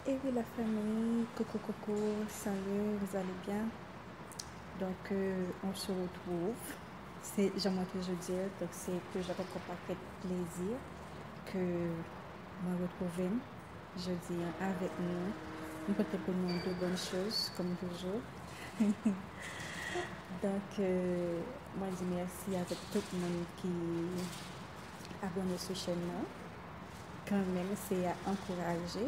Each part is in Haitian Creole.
Et oui la famille, coucou coucou, salut, vous allez bien? Donc euh, on se retrouve, c'est, j'en mwen toujou di, donc c'est que j'en konpon pa fèt plezi, que mwen retrouve m, je di an, avèk nou, m pote pou nou de bonn choz, kom toujou. Donc, euh, mwen di merci avèk tout moun ki abone sou chèn nan. Kanmenm se ya ankouraje.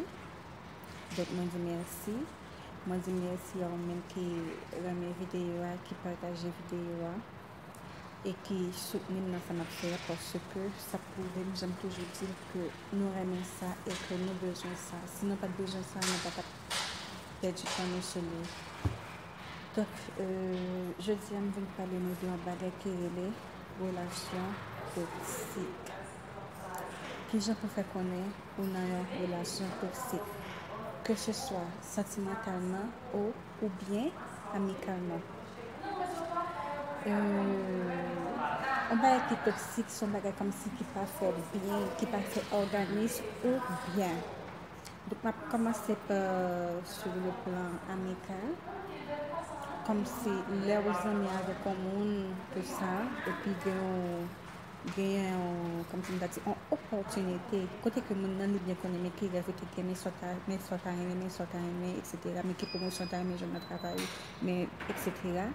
Donk mwen di mèsi. Mwen di mèsi a ou menm ki renmen videyo a, ki pataje videyo a. E ki soutni m nan sa m ap fè a paske sa pwouve m jan m toujou di l ke nou renmen sa e ke nou bezwen sa. Si nou pa t bezwen sa, nou pa t ap pèdi tan nou sou li. Donk, jodi a m vin pale nou de yon bagay ki rele relasyon toksik. Kijan pou fè konnen ou nan yon relasyon toksik, keseswa santimantalman o oubyen amikalman? Yon bagay ki toksik se yon bagay kòmsi ki pa fè byen, ki pa fè òganis ou byen. Donk m ap kòmanse pa sou le plan amikal, kòmsi lè ou zanmi avèk yon moun, tout sa, epi gen yon Genyen yon, kòm si m ta di, yon opòtinite kote ke moun nan li byen konnen men ki rèv ou te gen, men sa w ta, men sa w ta renmen, men sa w ta renmen, eksetera, men ki pwomosyon w ta renmen jwenn nan travay ou, men eksetera.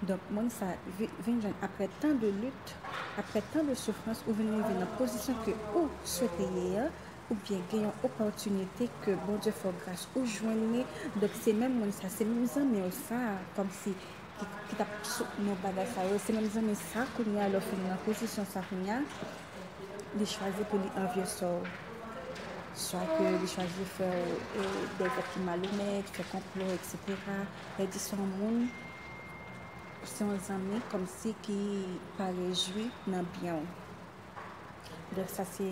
Donk moun sa vi, vin jwenn aprè tan de lit, aprè tan de soufrans, ou vin rive nan pozisyon ke ou swete ye a, ou byen gen yon opòtinite ke Bondye fè w gras, ou jwenn li, donk se menm moun sa, se menm zanmi w sa, kòm si. ki tap sot nan bagay sa yo se menm zanmi sa kounya lè w fin nan pozisyon sa kounya li chwazi pou li anvyesè w swa ke li chwazi fè w dè zak ki malonèt fè konplo eksetera lè di se yon moun se yon zanmi kòmsi ki pa rejwi nan byen w donk sa se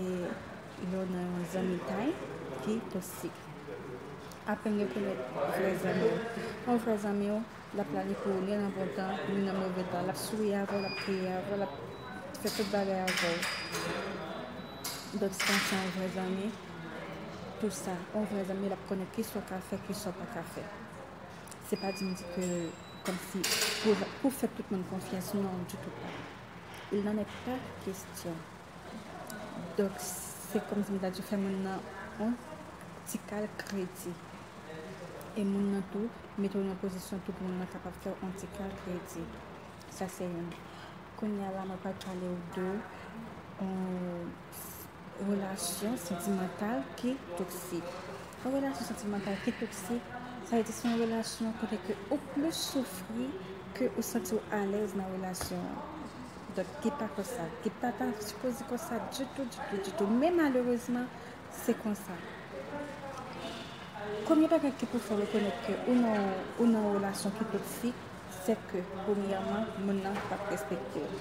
yon nan yon zanmitay ki toksik aprann rekonèt vrè zanmi w yon vrè zanmi w L ap planifye w ni nan bon tan, ni nan move tan. L ap souri avè w, l ap kriye avè w, l ap fè tout bagay avè w. Donk si w panse an w vrè zanmi, tou sa, an w vrè zanmi, l ap konnen ki sa w ka fè, ki sa w pa ka fè. Se pa di m di ke kòm si pou w fè tout moun konfyans, non, ditou pa. Il n'en est pas question. Donk, se kòmsi m ta di fè moun nan yon ti kal kredi. E moun nan tou, mete w nan pozisyon tou pou moun nan kapab fè w yon ti kal kredi. Sa se youn. Kounye a la, mwen pral pale w de yon relasyon santimantal ki toksik. Yon relasyon santimantal ki toksik, sa vle di se yon relasyon kote ke ou plis soufri ke ou santi w alèz nan relasyon an. Donk li pa konsa, li pa ta sipoze konsa ditou, ditou, ditou, men malerezman se konsa. Premye bagay ki pou fè w rekonèt ke ou nan yon, ou nan yon relasyon ki toksik, se ke premyèman moun nan pa p respekte w.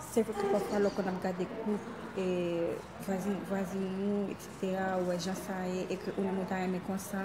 Se vre ke pafwa lè w konn ap gade koup e vwazin, vwazin ou, eksetera, ou wè jan sa ye e ke ou menm ou ta renmen konsa,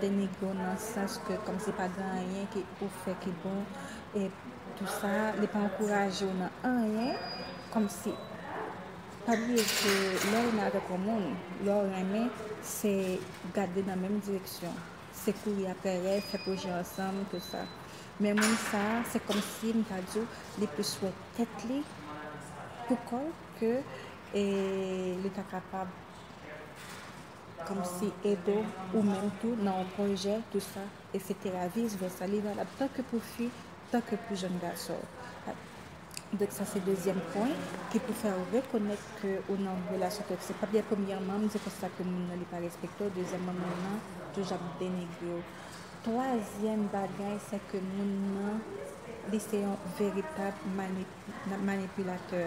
denigre w nan sans ke kòmsi pa gen anyen ke ou fè ki bon e tou sa, li pa ankouraje w nan anyen kòmsi pa bliye ke lè ou nan avèk yon moun lè w renmen se gade nan menm direksyon se kouri aprè rèv fè pwojè ansanm tou sa men moun sa se kòmsi m ta di w li plis wè tèt li pou kò l ke li ta kapab. Komsi Edo ou menm tou nan yon pwojè tou sa esetera vis vèsa li valab tan ke pou fi tan ke pou jèn gason donk sa se dezyèm pwen ki pou fè ou rekonèt ke ou nan yon relasyon toksik pap gen premyèman m di konsa ke moun nan li pa respekte w dezyèmman moun nan toujou ap denigre w twazyèm bagay se ke moun nan li se yon veritab manipilatè.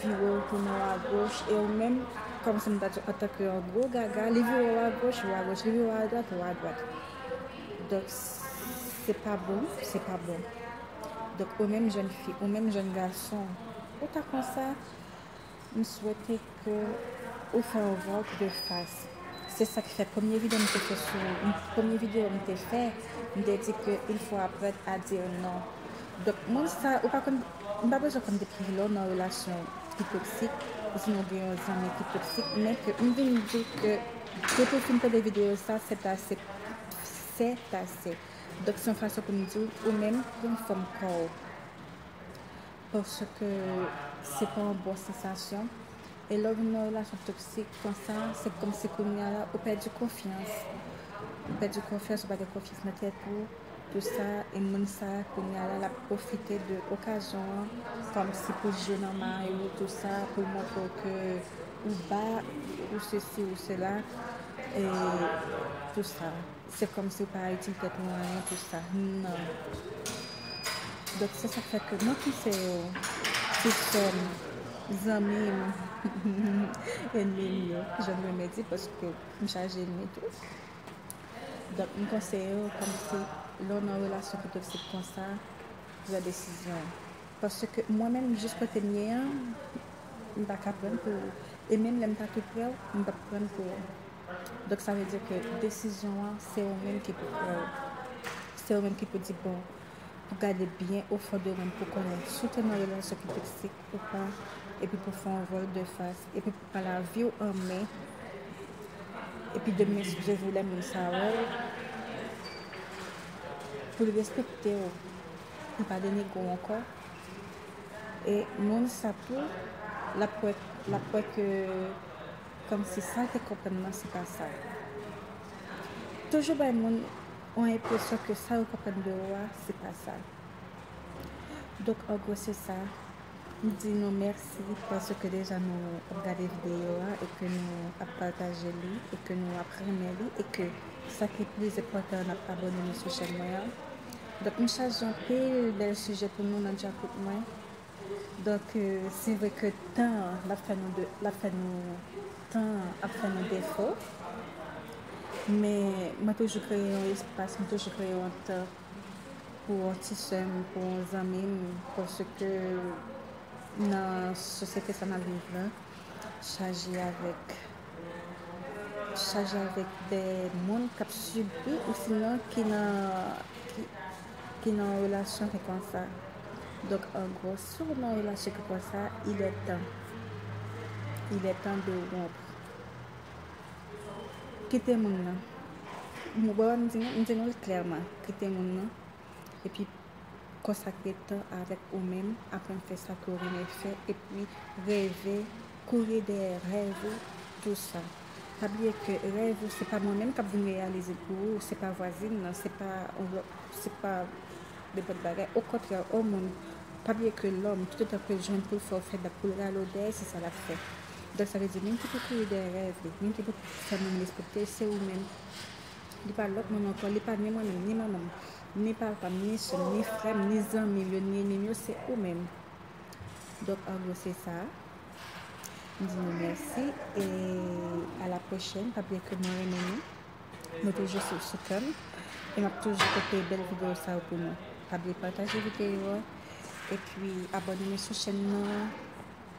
vire w tounen w agoch e ou menm kòm si m ta di an tan ke yon gwo gaga li vire w agoch ou agoch li vire w adwat ou adwat donk se pa bon se pa bon donk ou menm jèn fi ou menm jèn gason ou ta konsa m swete ke ou fè yon vòlp de fas se sa k fè premye videyo m te fè sou ou premye videyo m te fè m te di ke il fò aprand a di non donk moun sa ou pa konn M pa bezwen konn depi kilè w nan relasyon ki toksik ousnon w gen yon zanmi ki toksik men ke m vin di ke depi w fin tande videyo sa sètase sètase donk se yon fason pou m di w ou menm pran fòm kò w paske se pa yon bon sansasyon e lè w vin nan yon relasyon toksik konsa se kòmsi kounya la ou pèdi konfyans ou pèdi konfyans ou pa gen konfyans nan tèt ou. Pou sa e moun sa kounya la lap profite de okazyon an kom si pou jwe nan mari ou tou sa pou l montre w ke ou ba ou sesi ou sela e tou sa se kom si ou pa itil tet nou anyen pou sa nan donk se sa k fè ke mwen panse yo ti sè m zanmi m enmi m yo jan m renmen di paske m chaje enmi tou. Donk m konseye w kòm se lè w nan relasyon ki toksik konsa, pran desizyon w. Paske mwen menm jis kote m ye an, m pa ka prann pou ou. E menm lè m ta tou prè w, m p ap prann pou ou. Donk sa vle di ke desizyon an se ou menm ki pou pran l. Se ou menm ki pou di bon, pou gade byen o fon de ou menm pou konnen si w te nan relasyon ki toksik ou pa, epi pou fè yon vòltdefas, epi. A la viw an men epi de men siw jezi lè moun sa wèw poul respektew li pa denegew ankò e moun sa tou lap wè lap wè ke kòmsi sal te konprann nan se pa sa toujou bay moun yon enpresyon ke sa yo konprann de ou a se pa sa. Donk an gwo se sa. M di nou mèsi paske deja nou ap gade videyo a e ke nou ap pataje li e ke nou ap renmen li e ke sa ki pi enpòtan an n ap abòne nou sou chèn mwen an. Donk m chaje anpil bèl sijè pou nou nan djakout mwen. Donk se vre ke tan an l ap fè nou de l ap fè nou tan an ap fè nou defo men mwen toujou kreye yon espas, mwen toujou kreye yon tan. pou yon ti sè m, pou yon zanmi m paske nan sosyete sa n ap viv la chaje avèk chaje avèk dè moun k ap sibi osinon ki nan ki nan yon relasyon ki konsa donk an gwo si w nan yon relasyon ki konsa ilètan ilètan de w wonpr. Kite moun nan. Mwen wè m di nou, m di nou l klèman. Kite moun nan. E pi konsakre tan avèk ou menm, aprann fè sa ke w renmen fè, e pi reve, kouri dèyè rèv ou, tou sa. Pa bliye ke rèv ou se pa mwen menm k ap vin reyalize l pou ou, se pa vwazin nan, se pa yon lòt, se pa nenpòt bagay. Okontrè, o moun, pa bliye ke lòm, toutotan ke l jwenn pou l fè ou fè bak, pou l rale w dèyè, se sa l ap fè. Donk sa vle di moun ki pou kouri dèyè rèv li, moun ki pou fè moun respekte l se ou menm. Li pa lòt moun ankò, li pa ni mwen menm, ni manman m, ni papa m, ni sè m, ni frè m, ni zanmi m yo, ni enmi m yo, se ou menm. Donk an gwo se sa. M di nou mèsi e a la pwochèn. Pa bliye ke mwen renmen nou. Nou toujou sou sou kè m. E m ap toujou pote bèl videyo sa yo pou nou. Pa bliye pataje videyo a. E pi abòne nou sou chèn nan.